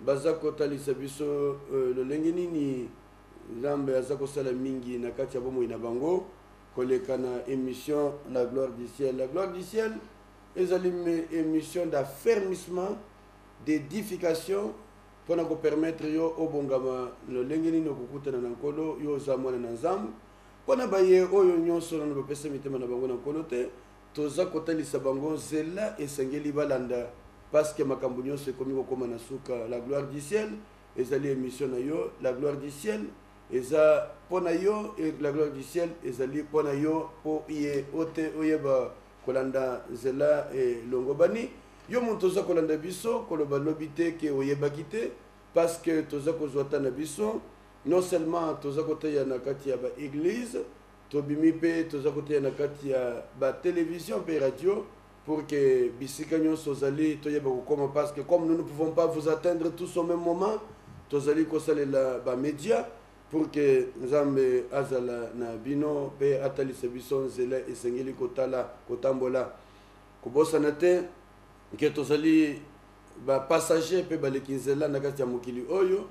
Baza kotalisa biso lolenge nini Nzambe aza kosala mingi na kati ya bomoi na bango koleka na emission La Gloire du Ciel. La Gloire du Ciel ezali emission d'affermissement, d'edification pona ko permettre yo obongama lolenge nini okokutana na Nkolo, yo oza mwana na Nzambe. Pona baye oyo nionso nanu bapesa mitema na bango na Nkolo te, Toza kotalisa bango nzela esengeli balanda pasque makambo nionso ekomi kokoma na suka. La gloire du ciel ezali emission na yo, la gloire du ciel eza po na yo et la gloire du ciel ezali po na yo po ye ote oyeba kolanda nzela elongobani. Yo mutu oza kolanda biso koloba lobi te ke oyebaki te pasque toza kozua temps na biso non seulement toza koteya na kati ya ba eglise Tobimi mpe toza koteya na kati ya ba television mpe radio pour que bisika nyonso ozali toyeba kokoma parce que comme nous ne pouvons pas vous atteindre tous au même moment tozali kosalela ba media pour que nzambe azala na bino mpe atalisa biso nzela esengeli kotala kotambola kobosana te ke tozali ba passager mpe baleki nzela na kati ya mokili oyo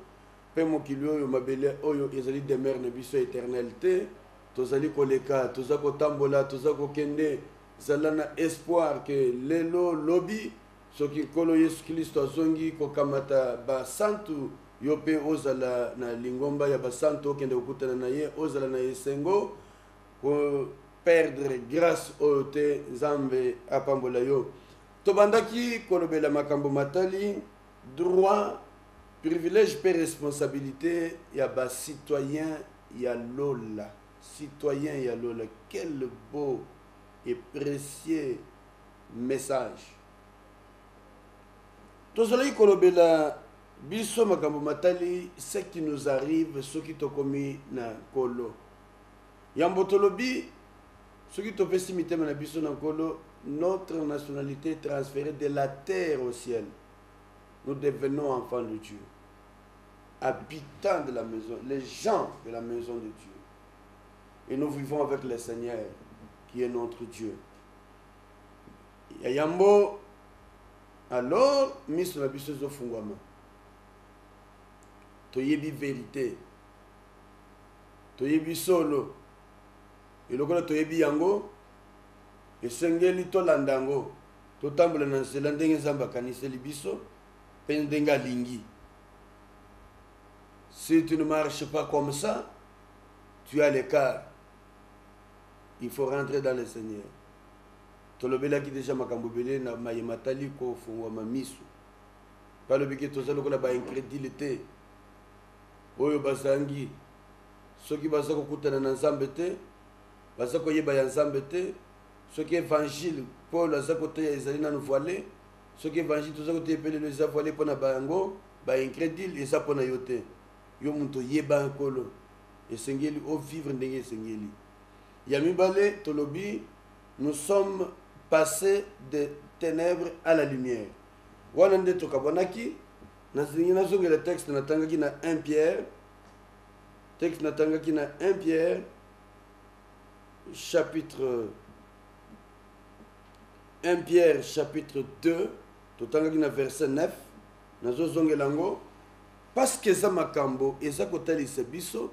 Mpe mokili oyo, mabele oyo, ezali demeure na biso eternelle te. Tozali koleka, toza kotambola, toza kokende. Zala na espoir que lelo, lobi, soki Nkolo Yesu Klisto azongi kokamata ba santu, yo mpe ozala na lingomba ya ba santu, okende kokutana na Ye, ozala na esengo. Ko perdre grace oyo te. Nzambe apambola yo. Tobandaki kolobela makambo matali. Droit, privilège mpe responsabilite ya ba citoyens ya lola, citoyens ya lola, quel beau et precieux message! Tozalaki kolobela biso makambo matali ce qui nous arrive soki tokomi na Nkolo. Yambo tolobi, soki topesi mitema na biso na Nkolo, notre nationalite est transferee de la terre au ciel. Nous devenons enfants de Dieu, habitants de la maison, les gens de la maison de Dieu. Et nous vivons avec le Seigneur qui est notre Dieu. Ya yambo, alors miso na biso ezofungwama toyebi verite toyebi solo ye. Lokola toyebi yango, esengeli tolanda yango, totambola na nzela ndenge Nzambe akaniseli biso mpe ndenge alingi. Si tu ne marches pas comme ça, tu as l'écart. Il faut rentrer dans le Seigneur. tolobelaki deja makambo ebele na maye matali kofungwama miso balobi ke toza lokola baincredule te Oyo bazangi, soki baza kokutana na Nzambe te, baza koyeba ya Nzambe te, soki evangile Paul aza koteya ezali nanu voile, soki evangile toza koteya pe lelo eza voile pona bango, ba incredule, eza pona yo te. Yo mutu oyeba Nkolo, esengeli o vivre ndenge esengeli. Ya mibale, tolobi nous sommes passes de tenèbres à la lumière. Wana nde tokabwanaki, Nalingi nazongela texte natangaki na 1 Pierre, texte natangaki na 1 Pierre chapitre 1 Pierre chapitre 2 totangaki na verset 9 nazozongela yango parce que eza makambo eza kotalisa biso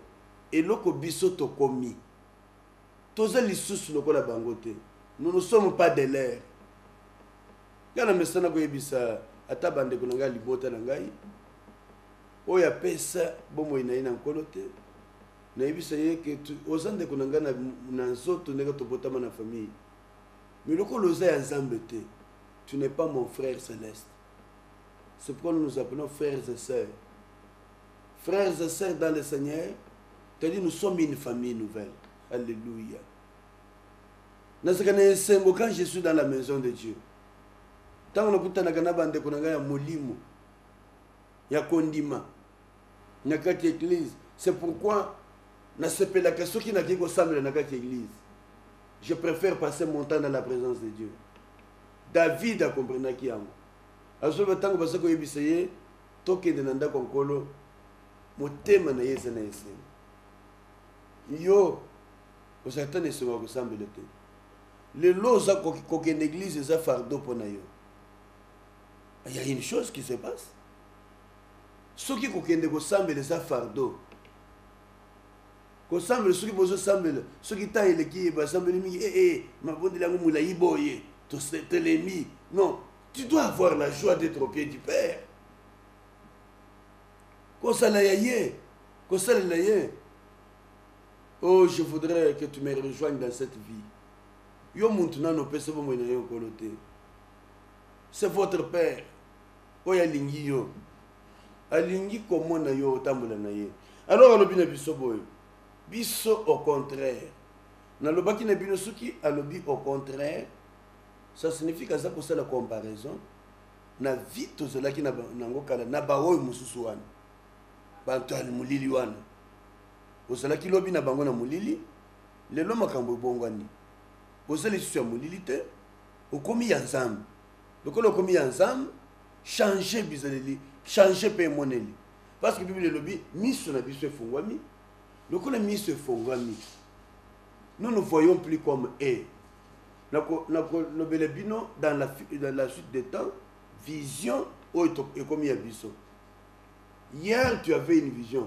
eloko biso tokomi toza lisusu lokola bango te nous ne sommes pas de l'air Nga na mesana koyebisa ata bandeko na ngai ya libota na ngai oyo apesa bomoi na ye na nkolo te nayebisa ye ke oza ndeko na ngai na nzoto ndenge tobotama na famille mais lokola oza ya nzambe te tu n'es pas mon frère céleste c'est pourquoi nous nous appelons frères et sœurs frères et sœurs dans le seigneur c'est-à-dire nous sommes une famille nouvelle alléluia nazalaka na esengo quand je suis dans la maison de dieu ntango nakutanaka na bandeko na ngai ya molimo ya kondima na kati ya eglise c'est pourquoi nasepelaka soki nakei kosambela na kati ya eglise je préfère passer mon temps dans la présence de dieu david akomprenaki yango azoloba ntango baza koyebisa ye tokende na ndako ya nkolo motema na ye eza na esengo yo Ozali ata na esengo ya kosambela te. Lelo oza kokende eglise eza fardeau mpo na yo. Il y a une chose qui se passe. Soki kokende kosambela eza fardeau. Kosambela soki bozosambela soki ntango eleki basambeli mingi ee eh, eh, mabondeli yango molai boye totelemi. Non, tu dois avoir la joie d'être au pied du Père. Kosala ya ye, kosalela ye. oh je voudrais que tu me rejoigne dans cette vie yo muntu nano opesi bomoi na yo nkolo te c'est votre père oyo alingi yo alingi komona yo otambola na ye alors alobi na biso boye biso au contraire nalobaki na bino soki alobi au contraire ça signifie kaza kosala comparaison na vie tozalaki nango kala na baoyo mosusu wana bato ya molili wana Ozalaki lobi na bango na molili, lelo makambo ebongwani. Oza lisusu ya molili te, okomi ya Nzambe. Lokola okomi ya Nzambe, changer bizaleli, changer pe emoneli. Parce que Bible elobi, miso na biso efongwami. Lokola miso efongwami, nous ne voyons plus comme est. nakolobela bino dans la, dans la suite de temps vision oyo ekomi ya biso hier tu avais une vision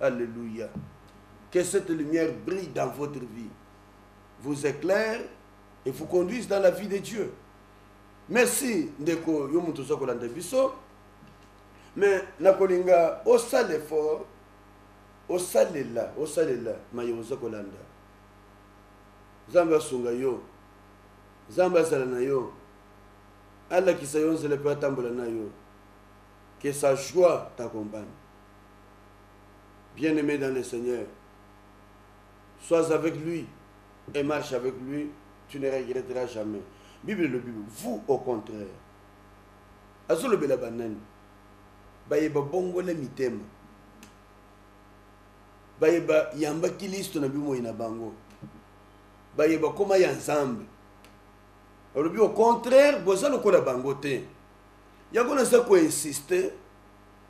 Alléluia. Que cette lumière brille dans votre vie, vous éclaire et vous conduise dans la vie de Dieu. Merci ndeko yo moto oza kolanda biso mais nakolinga osala effort osalela osalela maye oza kolanda nzambe asunga yo nzambe azala na yo alakisa yo nzela mpe atambola na yo que sa joie t'accompagne bien aime dans le seigneur sois avec lui et marche avec lui tu ne regretteras jamais bible elobi vous au contraire azolobela banani baye babongole mitema baye bayamba kilisto na bimoi na bango baye bakoma ya nzambe alobi au contraire boza lokola bango te yango naza koinsiste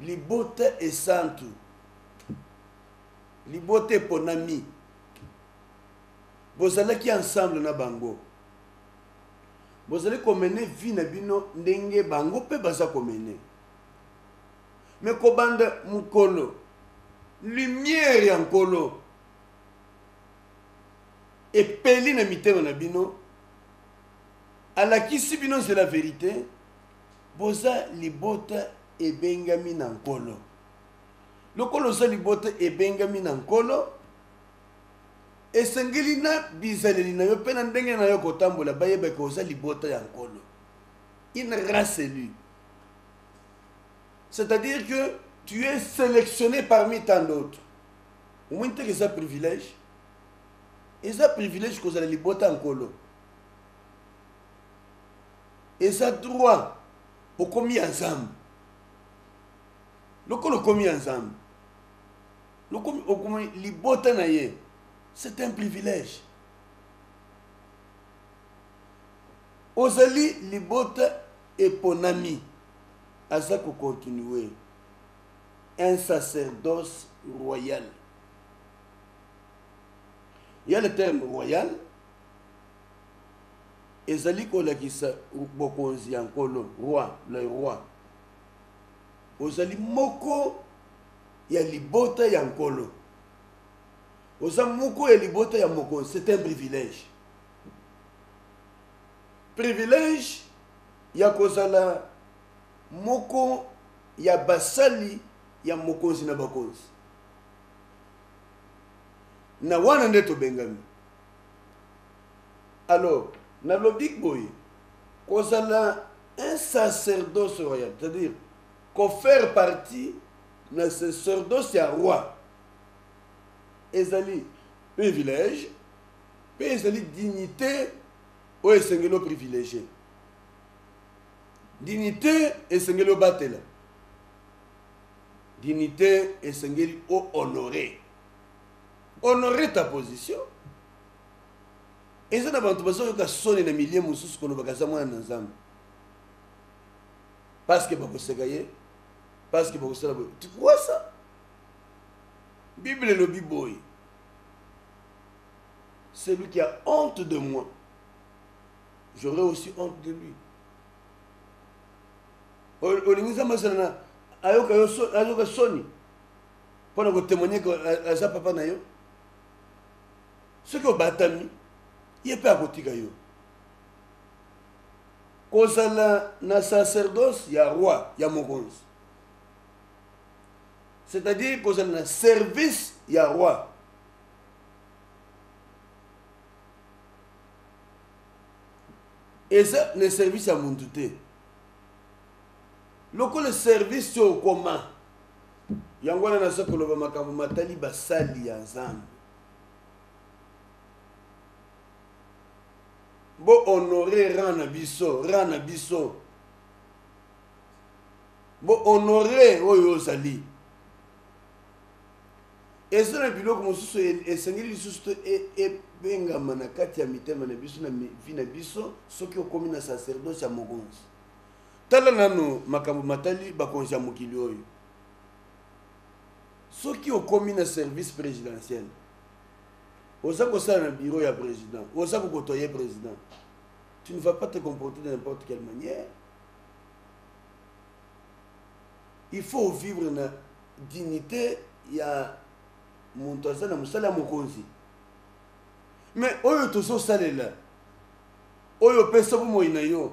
Libota esantu, libota eponami, bozalaki ensemble na bango, bozali komene vie na bino ndenge bango mpe baza komene me kobanda mokolo lumière ya nkolo epeli na mitema na bino alakisi bino nzela verite Boza libota ebengami na Nkolo. Lokola oza libota ebengami na Nkolo, esengeli na bizaleli na yo mpe na ndenge na yo kotambola bayebake oza libota ya Nkolo. Une race élue. C'est-à-dire que tu es sélectionné parmi tant d'autres. omoni teke eza privilège eza privilège kozala libota ya nkolo Eza droit okomi ya nzambe lokola okomi ya nzambe lokomi okomi libota na ye c'est un privilège ozali libota eponami aza kocontinue un sacerdoce royal ya le terme royal ezali kolakisa bokonzi ya Nkolo, roi, le roi. Ozali moko ya libota ya Nkolo. Oza moko ya libota ya mokonzi, c'est un privilège. Privilège ya kozala moko ya basali ya mokonzi na bakonzi. Na wana nde tobengami. Alors, nalobi boye, kozala un sacerdoce royal, c'est-à-dire ko faire partie na sacerdoce ya roi, ezali privilège mpe ezali dignité oyo esengeli o privilégie. Dignité esengeli obatela. Dignité esengeli o honorer. Honore ta position eza na bato bazoyoka soni na milie mosusu kolobaka aza mwana na nzambe parceke bakoseka ye parceke bakosala boye tikwasa bible elobi boye celui qui a honte de moi j'aurai aussi honte de lui olingi nzambe asala na ayoka soni pona ko témoigner que euh, aza papa na yo soki obatami ye mpe akotika yo kozala na sacerdoce ya roi ya mokonzi c'est-à-dire kozala na service ya roi eza na service ya muntu te Lokola service oyo okoma, yango wana naza koloba makambo matali basali ya Nzambe. Bo honore rang na biso, rang na biso. Bo honore oyo ozali. Eza na biloko mosusu e, esengeli lisusu to e, ebengama na kati ya mitema na biso na vi na biso soki okomi na sacerdoce ya mokonzi. Tala nanu makambo matali bakonzi ya mokili oyo. Soki okomi na service presidentiel, oza kosala na bureau ya president, oza kokotoye president, tu ne vas pas te comporter de n'importe quelle manière. Il faut vivre na dignité ya moto aza na mosala ya mokonzi. Mais oyo tozosalela, oyo opesa bomoi na yo,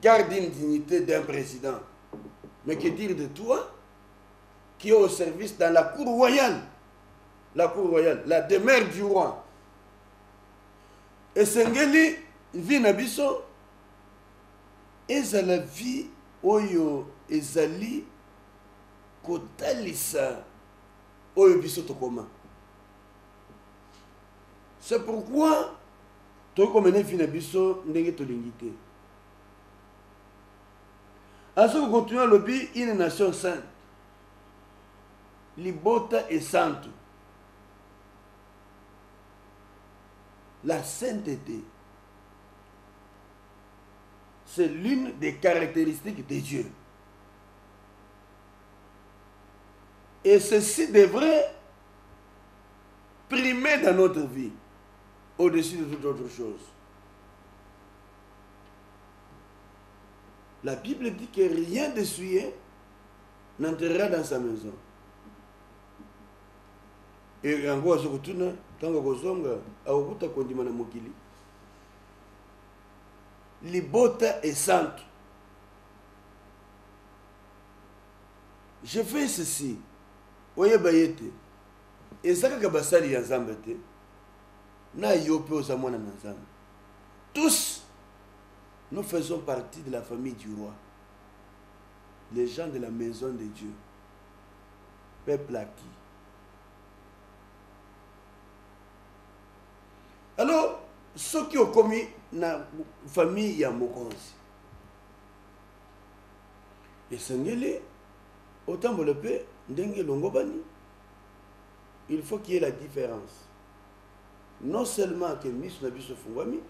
garde une dignité d'un président. Mais que dire de toi qui est au service dans la cour royale La cour royale, la demeure du roi. esengeli vie na biso ezala vie oyo ezali kotalisa oyo biso tokoma c'est pourquoi tokoki komene vie na biso ndenge tolingi te azo kokontinue alobi une nation sainte libota esantu la sainteté c'est l'une des caractéristiques de Dieu et ceci devrait primer dans notre vie au dessus de toute autre chose. La Bible dit que rien de souillé n'entrera dans sa maison. Et yango azo kotuna ntango akozonga akokuta kondima na mokili libota esantu je fais ceci oyeba ye te Eza kaka basali ya Nzambe te na yo pe oza mwana na Nzambe. Tous nous faisons partie de la famille du roi. Les gens de la maison de Dieu. Peuple acquis. Alors soki okomi na famille ya mokonzi esengeli otambola pe ndenge elongobani il faut qu'il y ait la difference non seulement que miso na biso efungwami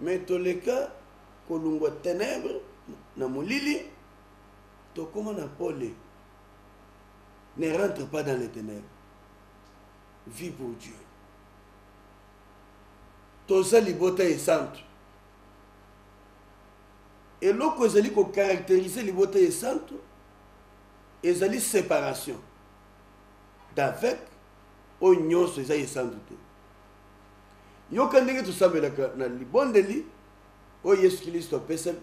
mais toleka kolungwa ténèbre na molili tokoma na pole ne rentre pas dans les ténèbres vie pour dieu toza libota esantu eloko ezali ko caracteriser libota esantu ezali separation d'avec oyo nyonso eza esantu te yoka ndenge tosambelaka na libondeli oyo yesu kristo apesa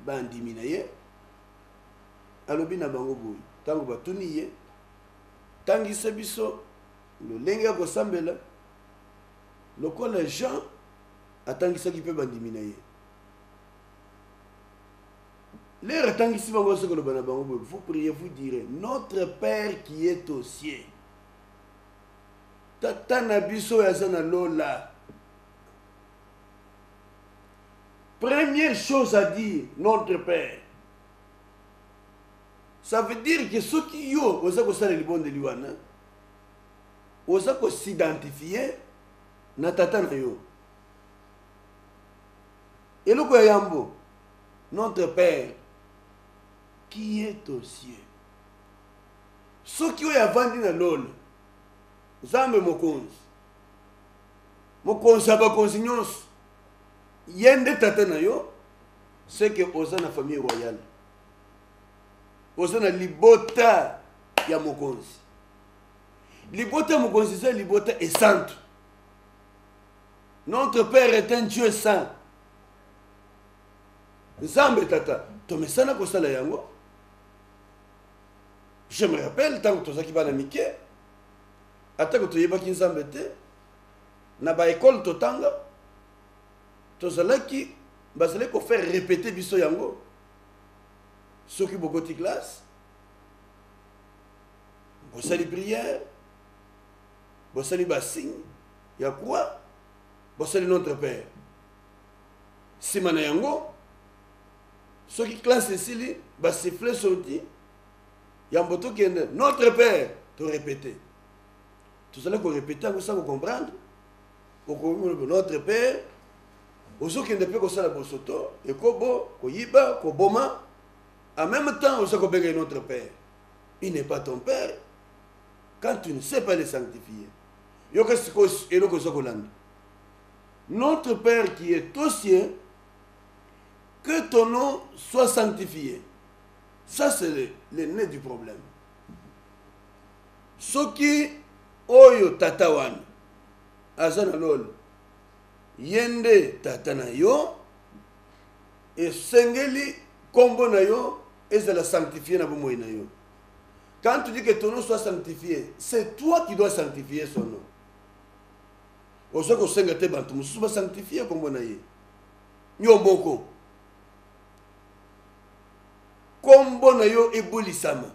bandimi na ye alobi na bango boye ntango batuni ye tangisa biso lolenge ya kosambela Lokola Jean atangisaki mpe bandimi na ye. Lere atangisi bango azo koloba na bango boye vous priez vous direz notre père qui est aux cieux tata na biso oyo aza na lola première chose à dire notre père ça veut dire que soki yo oza kosala libondeli wana oza ko s'identifier na tata na yo eloko ya yambo notre père qui est aux cieux soki oyo avandi na lola nzambe mokonzi mokonzi ya bakonzi nyonso ye nde tata na yo seke oza na famille royale oza na libota ya mokonzi libota mokonzi eza libota esantu notre père est un dieu saint nzambe tata tomesana kosala yango je me rappelle ntango tozalaki bana mike atako toyebaki nzambe te na baekole totanga tozalaki bazalaki kofaire répéter biso yango soki bokoti classe bosali prière bosali basigne ya croix bosali notre père nsima na yango soki classe esili basifle sorti yambo tokende notre père torepete tozali korepete yango sa kocomprendre okomi notre père ozokende mpe kosala bosoto ekobo koyiba koboma en même temps oza kobenga notre père il n'est pas ton père quand tu ne sais pas le sanctifier yoka sikoyo eloko eza kolanda notre père qui est aux cieux que ton nom soit sanctifié ça c'est le, le nez du problème soki oyo tata wana aza na lolo ye nde tata na yo Esengeli kombo na yo ezala sanctifie na bomoi na yo. Quand tu dis que ton nom soit sanctifié, c'est toi qui dois sanctifier son nom. Ozo kosenga te bantu mosusu ba sanctifier kombo na ye. Yo moko. Kombo na yo ebolisama.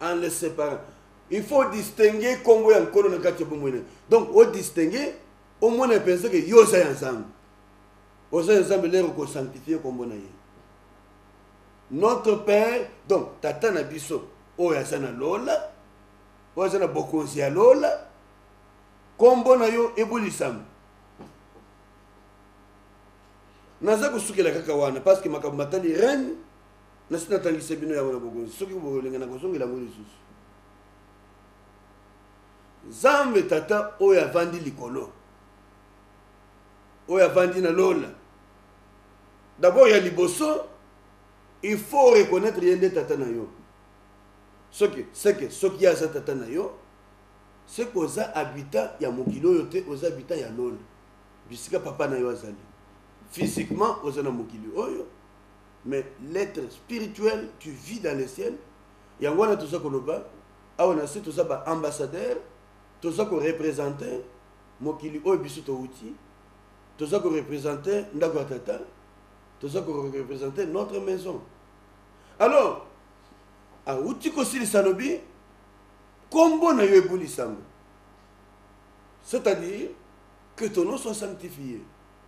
en le séparant il faut odistingue nkombo ya nkolo na kati ya bomoi na donc odistingue omona mpenza ke yo oza ya nzambe oza ya nzambe lere okosanctifie nkombo na ye notre père donc tata na biso oyo aza na lola oyo aza na bokonzi ya lola nkombo na yo ebulisama naza kosukela kaka wana parce que makambo matali reine Nasi natangisa bino yango na bokonzi, soki bolinga nakozongela yango lisusu. Nzambe Tata oyo avandi likolo, oyo avandi na lola, dabord ya liboso il faut reconnaître ye nde tata na yo soki seke soki ye aza tata na yo seke oza habitant ya mokili oyo te oza habitant ya lola bisika papa na yo azali physiquement oza na mokili oyo mais l'etre spirituel tu vis dans le ciel yango wana toza koloba awa na se toza ba ambassadeur toza korepresente mokili oyo biso towuti toza korepresente ndako ya tata toza korepresente notre maison alors awuti kosilisa alobi nkombo na yo ebulisama c'est-à-dire que ton nom soit sanctifié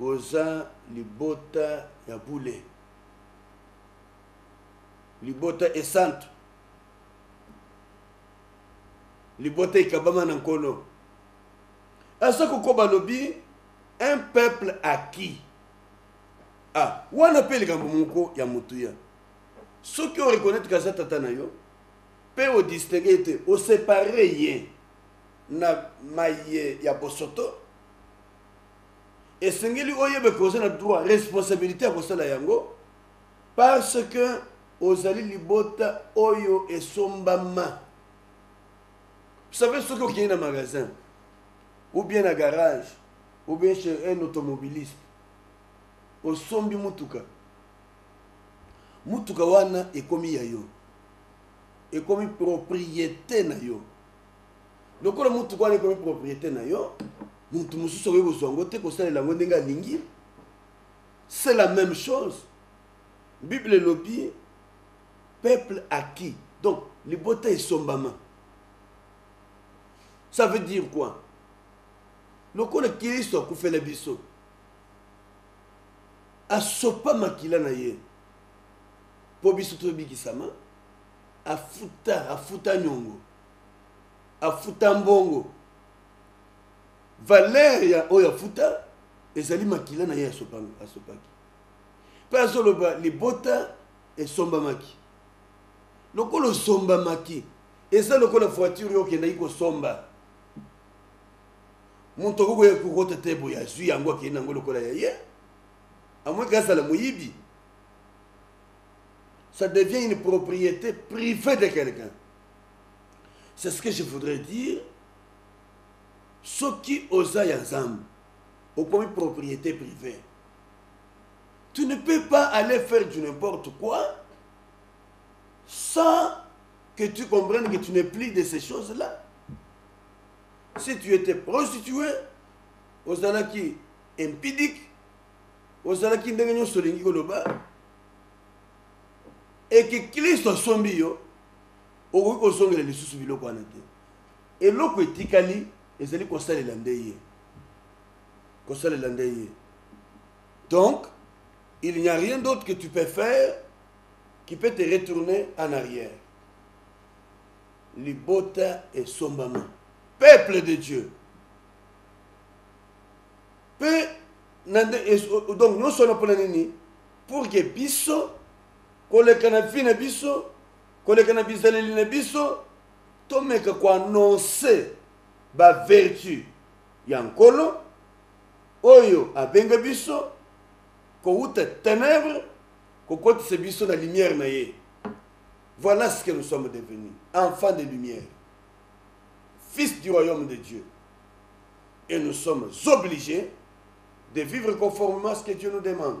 Oza libota ya bule. Libota esantu. Libota ekabama na nkolo. Aza kokoba lobi un peuple acquis. Ah, wana mpe likambo moko ya motuya. Soki o reconnaître kaza tata na yo, mpe o distingue ye te, o separe ye na maye ya bosoto, esengeli oyeba ke oza na droit responsabilité ya kosala yango parce que ozali libota oyo esombama savez soki okei na magasin ou bien na garage ou bien chez un automobiliste osombi motuka motuka wana ekomi ya yo ekomi propriété na yo lokola motuka wana ekomi propriété na yo motu mosusu akoki kozwa yango te kosalela yango ndenge alingi c'est la même chose bible elobi peuple acquis donc libota esombama ça veut dire quoi lokola kristo akufela biso asopa makila na ye mpo biso tobikisama afuta afuta nyongo afuta mbongo valeur ya oyo afuta ezali makila na ye asopaki mpe azoloba libota esombamaki lokola osombamaki eza lokola voiture yo okendaki kosomba moto akoki koya kokota te boye azwi yango akei na yango lokola ya ye amweki azala moyibi ça devient une propriété privée de quelqu'un c'est ce que je voudrais dire soki oza ya nzambe okomi propriété privée tu ne peux pas aller faire du n'importe quoi sans que tu comprennes que tu n'es plus de ces choses là si tu étais prostitué ozalaki impidique ozalaki ndenge nyonso olingi koloba eke klisto asombi yo okoki kozongela lisusu biloko wana te eloko etikali ezali kosalela nde ye kosalela nde ye donc il n'y a rien d'autre que tu peux faire qui peut te retourner en arrière libota esombama peuple de dieu mpe donc nyonso wana mpona nini pour que biso koleka na vie na biso koleka na bizaleli na biso tomeka koannonce bavertu ya nkolo oyo abenga biso kowuta ténèbre kokotisa biso na lumière na ye voilà ce que nous sommes devenus enfants de lumière fils du royaume de dieu et nous sommes obligés de vivre conformément à ce que dieu nous demande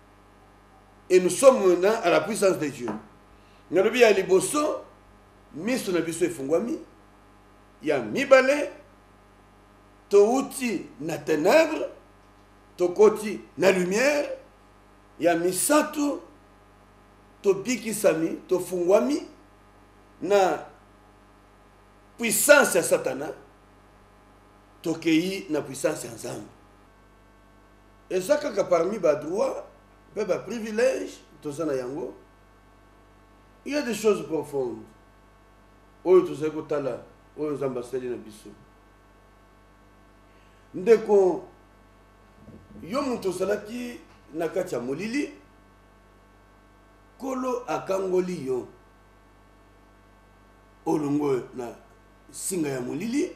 et nous sommes na à la puissance de dieu nalobi ya liboso miso na biso efungwami ya mibale touti na ténèbre tokoti na lumière ya misato tobikisami tofungwami na puissance ya satana tokei na puissance ya nzambe eza kaka parmi ba droit pe ba privilège toza na yango il y a des choses profondes oyo tozali kotala oyo nzambe asali na biso ndeko yo moto ozalaki na kati ya molili nkolo akangoli yo olongwe na nsinga ya molili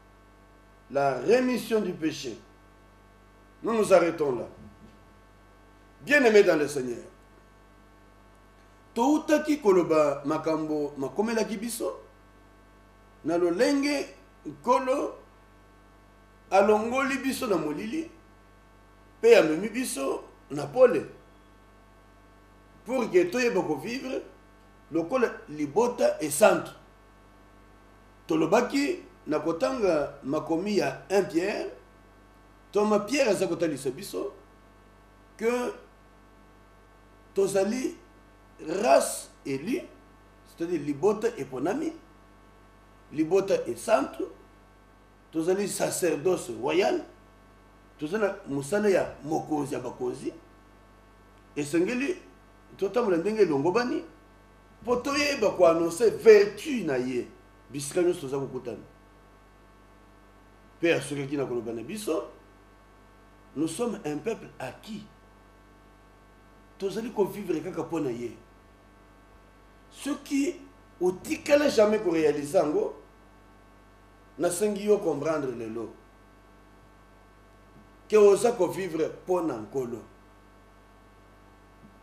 la remission du peche. Nous nous arrêtons là. Bien-aimés dans le Seigneur, toutaki koloba makambo makomelaki biso na lolenge nkolo alongoli biso na molili mpe amemi biso na pole pour ke toyeba kovivre lokola libota esantu Tolobaki na kotanga makomi ya 1 Pierre, ntoma Pierre aza kotalisa biso que tozali race élue, c'est-à-dire libota eponami, libota esantu, tozali sacerdoce royal, toza na mosala ya mokonzi ya bakonzi, esengeli totambola ndenge elongobani. Po toyeba ko annoncer vertu na ye, bisika nionso toza kokutana. Pe asukaki na koloba na biso, Nous sommes un peuple acquis. Tozali ko vivre kaka po na ye. Soki otikala jamais ko realiser yango, nasengi yo comprendre lelo que oza ko vivre po na Nkolo.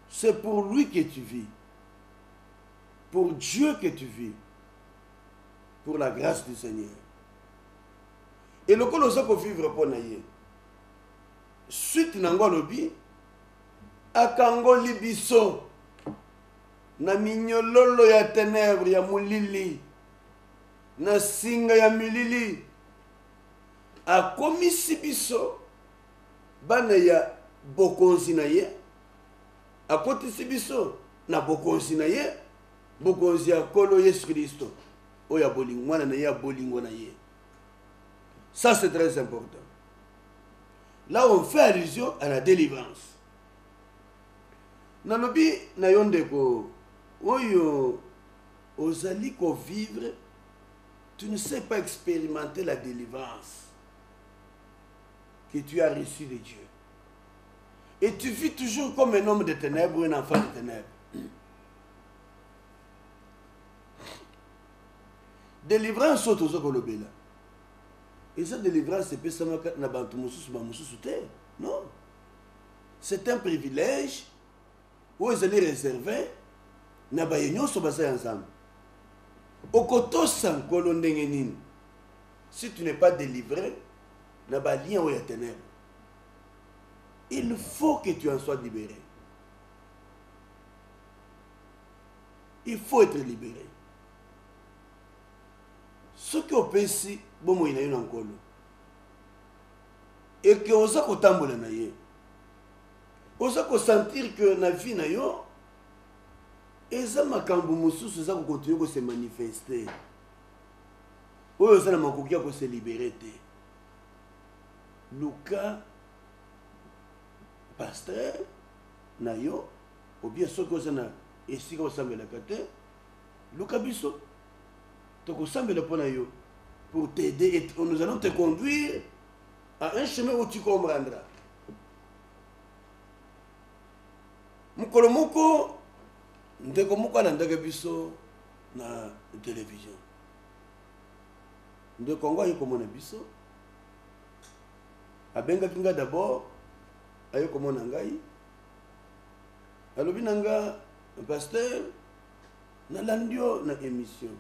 c'est pour lui que tu vis pour Dieu que tu vis pour la grâce du Seigneur et lokola oza kovivre mpo na ye suite na yango alobi akangoli biso na minyololo ya tenebre ya molili na singa ya milili akomisi biso bana ya Bokonzi na Ye, akotisi biso na Bokonzi na Ye, Bokonzi ya Nkolo Yesu Klisto, oyo ya bolingo, mwana na Ye ya bolingo na Ye. Ça, c'est très important. Là, on fait allusion à la délivrance. nalobi na yo ndeko oyo ozali kovivre tu ne sais pas expérimenter la délivrance que tu as reçu de Dieu. Et tu vis toujours comme un homme de ténèbres ou un enfant de ténèbres. Délivrance autre ozo kolobela. Et cette délivrance c'est pesama na bantu mususu ba mususu te. Non. C'est un privilège où ils allaient réserver na baye nyonso baza ya nzambe okotosa nkolo ndenge nini Si tu n'es pas delivre na ba liens oyo ya tenèbres, il faut que tu en sois libere. Il faut être libere. soki opesi bomoi na yo na nkolo eke oza kotambola na ye oza kosentir ke na vie na yo eza makambo mosusu eza kokontinue kose manifeste oyo oza na makoki ya kose libere te luka pasteur na yo obien soki oza na esika osambelaka te luka biso tokosambela mpo na yo pour t'aider et nous allons te conduire à un chemin où tu comprendras mokolo moko ndeko moko alandaka biso na television ndeko yango aye komona biso abengaki ngai d'abord aye komona ngai alobi na nga pasteur nalandi yo na émission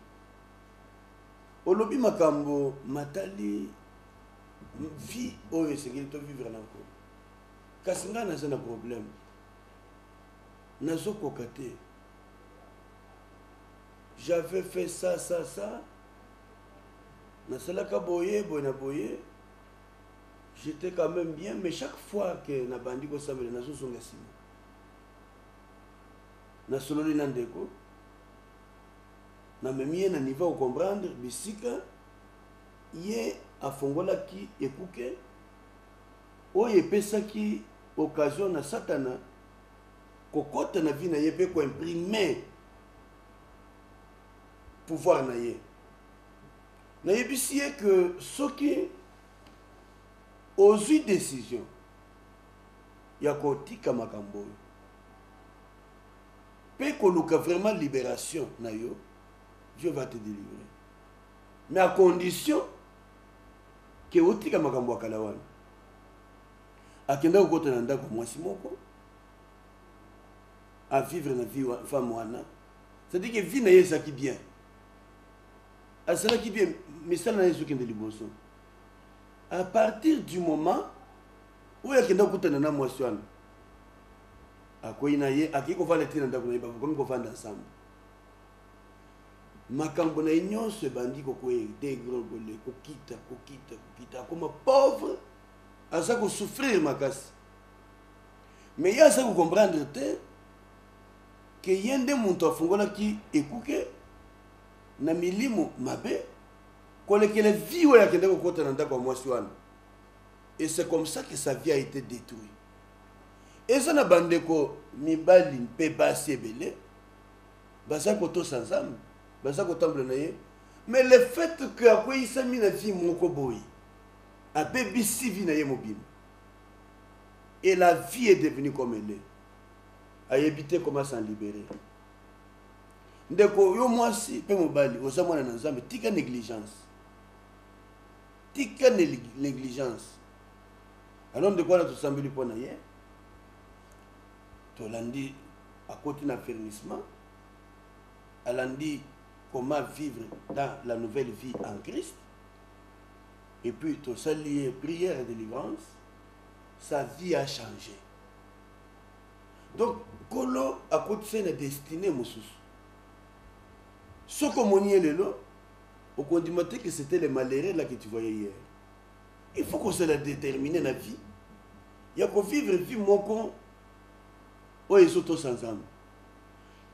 olobi makambo matali vie oyo esengeli tovivre na nko kasi ngai naza na problème nazokoka te j'avais fait ça ça ça nasalaka boye boye na boye j'étais quand même bien mais chaque fois que nabandi kosambela nazozonga nsima nasololi na ndeko namemi ye na niveau okomprendre bisika ye afongolaki ekuke oyo epesaki occasion na satana Kokota na vie na ye pe ko imprime pouvoir na ye. Na yebisi ye que soki ozui decision ya ko tika makambo oyo pe ko luka vraiment liberation na yo, Dieu va te delivrer. Mais à condition que otika makambo ya kala wana. Akenda kokota na ndaku ya mwasi moko. a vivre na vie femme wana c'est-à-dire que vie na ye ezalaki bien azalaki bien misala na ye ezokende liboso à partir du moment oyo akenda kokutana na mwasi wana akwei na ye akei kofanda te na ndako na ye bakomi kofanda nsambo makambo na ye nyonso ebandi kokwei degrogole kokita kokita kokita akoma pauvre aza kosouffrir makasi mais ye aza kocomprendre te ke ye nde moto afungolaki ekuke na milimo mabe kolekele vie oyo akende kokota na ndako ya mwasi wana et c'est comme ça que sa vie a été détruit eza na bandeko mibali mpe basi ebele baza kotosa nzambe baza kotambola na ye mais le fait que akweyisami na vie moko boye abebisi vie na ye mobimba et la vie est devenue comme elle est ayebi te comment s'en libérer ndeko yo mwasi mpe mobali oza mwana na nzambe tika négligence tika négligence alors ndeko wana tosambeli mpo na ye tolandi akoti na fermissement alandi comment vivre dans la nouvelle vie en christ et puis tosali ye prière ya delivrance sa vie a change donc nkolo akotisa ye na destine mosusu soki omoni ye lelo okondima te que c'était le malheureux là que tu voyais hier il faut kozala détermine na vie ya kovivre vie moko oyo ezotosa nzambe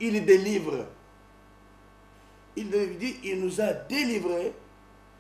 il délivre il dit il nous a délivré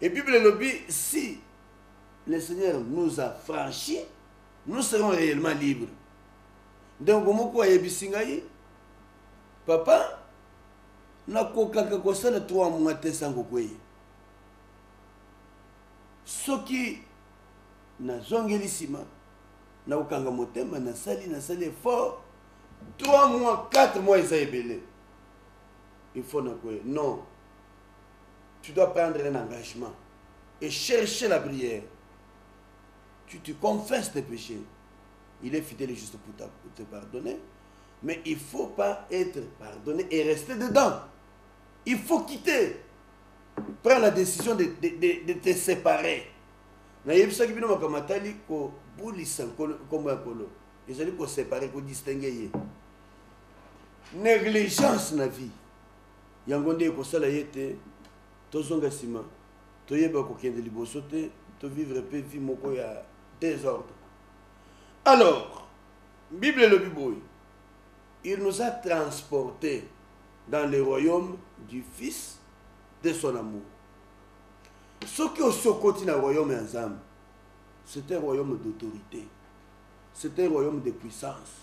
Et Bible elobi si le Seigneur nous a franchi, nous serons réellement libres. Donc moko ayebisi ngai papa nakokaka kosala 3 mois te sans kokweya soki nazongeli nsima nakokanga motema nasali nasali effort 3 mois 4 mois eza ebele il faut nakweya non tu dois prendre un engagement et chercher la prière. Tu te confesses tes péchés. Il est fidèle et juste pour te pardonner. Mais il ne faut pas être pardonné et rester dedans. Il faut quitter. Prends la décision de, de, de, de te séparer. nayebisaki bino makambo matali kobulisa nkombo ya nkolo ezali kosepare kodistingue ye négligence na vie Yango nde ekosala ete tozonga sima, toyeba kokende liboso te, to vivre pe vie moko ya desordre. Alors, Bible elobi boye, il nous a transporte dans le royaume du fils de son amour. Soki osi okoti na royaume ya Nzambe, c'est un royaume d'autorité, c'est un royaume de puissance.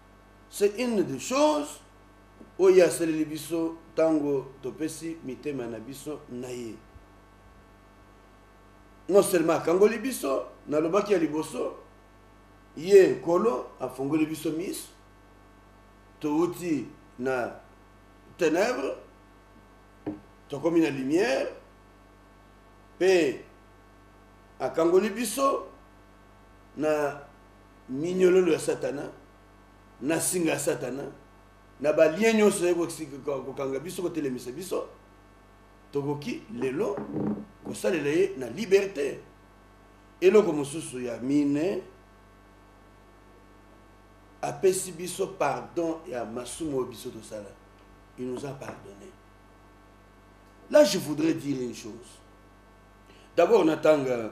C'est une des choses oyo ye asaleli biso ntango topesi mitema na biso na ye. Non seulement akangoli biso, nalobaki ya liboso, ye Nkolo afongoli biso miso, touti na ténèbres tokomi na lumière mpe akangoli biso na minyololo ya satana na singa ya satana na balien nyonso ezali kokanga biso kotelemisa biso tokoki lelo kosalela ye na liberte eloko mosusu ya mine apesi biso pardon ya masumu oyo biso tosala il nous a pardonné là je voudrais dire une chose d'abord natanga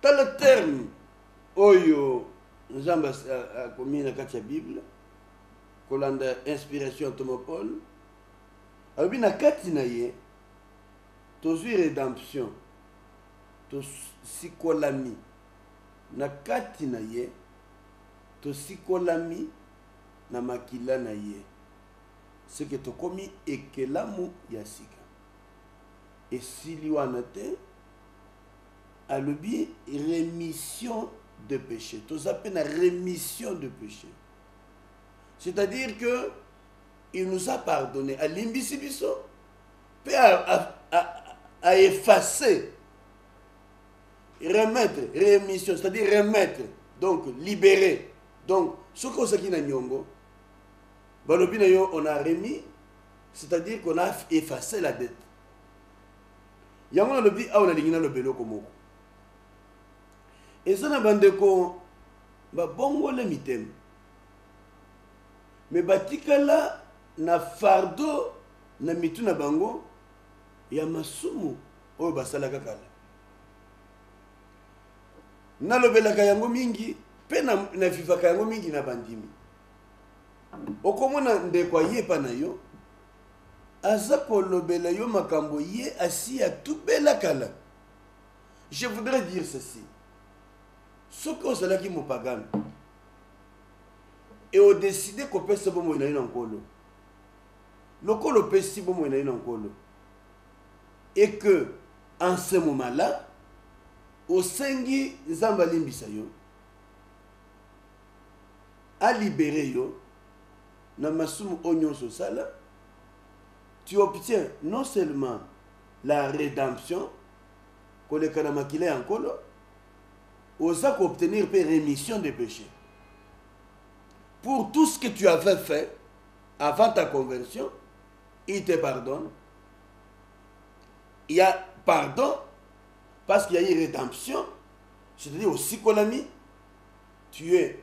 tala terme oyo nzambe akomi na kati ya bible kolanda inspiration ya toma paul alobi na kati na ye tozwi redemption tosikolami na kati na ye tosikolami na makila na ye seke tokomi ekelamu ya sika esili wana te alobi remission de péché toza mpe na remission de péché c'est-à-dire que il nous a pardonné alimbisi biso mpe aefface remettre remission c'est-à-dire remettre donc libérer donc soki ozalaki na nyongo balobi na yo on a remis c'est-à-dire qu'on a effacé la dette yango nalobi awa nalingi naloba eloko moko eza na bandeko babongola mitema me batikala na fardo na mitu na bango ya masumu oyo basalaka kala nalobelaka yango mingi mpe navivaka yango mingi na bandimi okomona ndeko ayepa na yo aza kolobela yo makambo ye asi atubela kala je voudrais dire ceci soki ozalaki mopagano e odeside kopesa bomoi na yo na nkolo lokola opesi bomoi na yo na nkolo et que en ce moment là osengi nzambe alimbisa yo alibere yo na masumu oyo nyonso osala, tu obtiens non seulement la redemption koleka na makila ya nkolo oza koobtenir mpe remission de péché pour tout ce que tu avais fait avant ta conversion il te pardonne il y a pardon parce qu'il y a eu rédemption c'est-à-dire osikolami tu es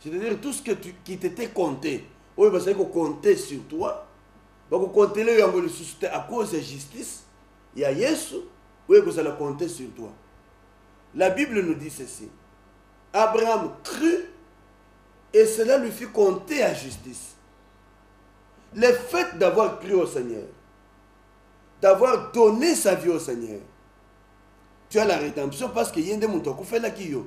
c'est-à-dire tout ce que tu, qui t'était compté oyo bazali kocompte sur toi bakokontele yo yango lisusu te à cause ya justice ya yesu oyo ekozala compte sur toi la bible nous dit ceci abraham crut et cela lui fit compter à justice le fait d'avoir cru au seigneur d'avoir donné sa vie au seigneur tu as la rédemption parce que ye nde moto akufelaki yo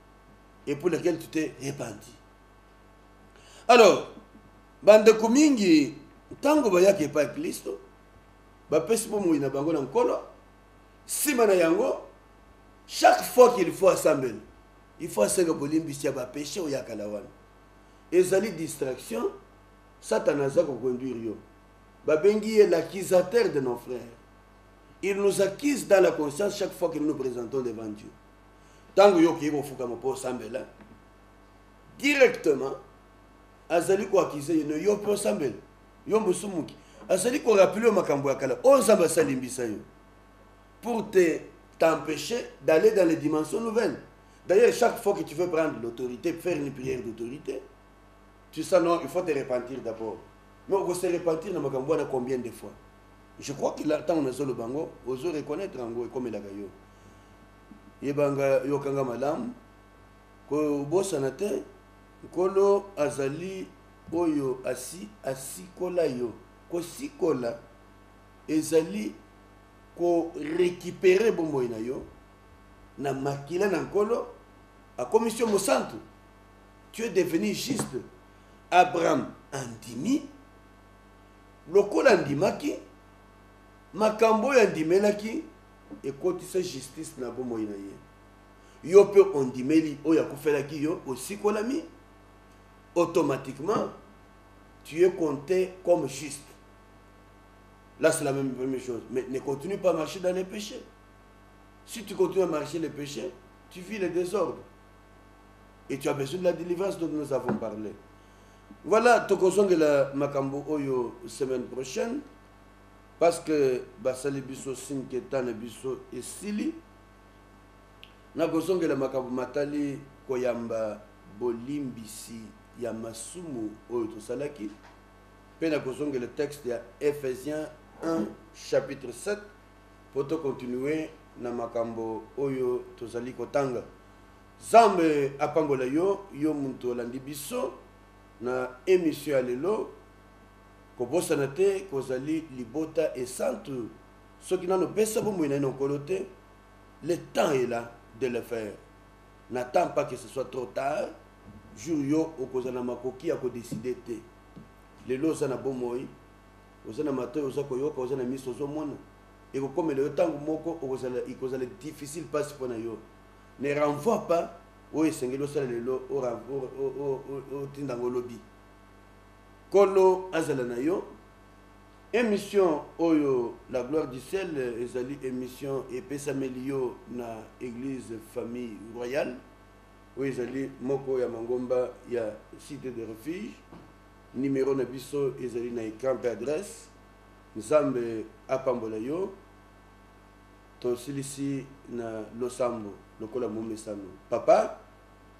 et pour lequel tu t'es repenti alors bandeko mingi ntango bayaki epai ya klisto bapesi bomoi na bango na nkolo nsima na yango chaque fois qu'il faut asambela il faut asenga bolimbisi ya bapeshe oyo ya kala wana ezali distraction satana aza koconduire yo babengi ye l'accusateur de nos frères il nous accuse dans la conscience chaque fois que nous nous présentons devant dieu ntango yo okei kofukama mpo osambela directement azali koakize ye no yo mpe osambela yo mosumuki azali korapele yo makambo ya kala oyo nzambe asalimbisa yo pour te t'empêcher d'aller dans les dimensions nouvelles d'ailleurs chaque fois que tu veux prendre l'autorité faire une prière d'autorité tu sais non il faut te repentir d'abord mais okose repentir na makambo wana combien de fois je crois que ntango nazoloba yango ozo reconnaître yango ekomelaka yo yeba nga yoka nga malamu kobosana te nkolo azali oyo asi asikola yo kosikola ezali korekipere bomoi na yo na makila na nkolo akomisi yo mosantu tu es devenu juste abraham andimi lokola andimaki makambo oyo andimelaki Ekotisa justice na bomoi na ye. Yo mpe ondimeli oyo akufelaki yo, osikolami, automatiquement tu es compte comme juste. Là, c'est la même, même chose. Mais ne continue pas à marcher dans les péchés. Si tu continues à marcher les péchés, tu vis le désordre. Et tu as besoin de la délivrance dont nous avons parlé. Voilà, tokozongela makambo oyo semaine prochaine. Parce que basali biso signe que temps na biso esili. Nakozongela makambo matali koyamba bolimbisi ya masumu oyo tosalaki mpe nakozongela texte ya Ephesiens 1 chapitre 7 mpo tokontinue na makambo oyo tozali kotanga. Zambe apambola yo yo moto olandi biso na emission ya lelo. Kobosana te ke ozali libota esantu soki nanu opesa bomoi nayo na Nkolo te, le temps est la de le faire, n'attend pas que ce soit trop tard, jour yo okozala na makoki ya ko decider te. Lelo oza na bomoi, oza na matoyi oza koyoka, oza na miso ozo mona, ekokomela yo tango moko okozala ekozala difficile pasi pona yo, ne renvoie pas oyo esengeli osala lelo otinda yango lobi. Nkolo azala na yo. Emission oyo la gloire du ciel ezali emission epesameli yo na eglise famille royale oyo ezali moko ya mangomba ya cite de refuge numero na biso ezali na ecran mpe adresse nzambe apambola yo tosilisi na losambo lokola momesano papa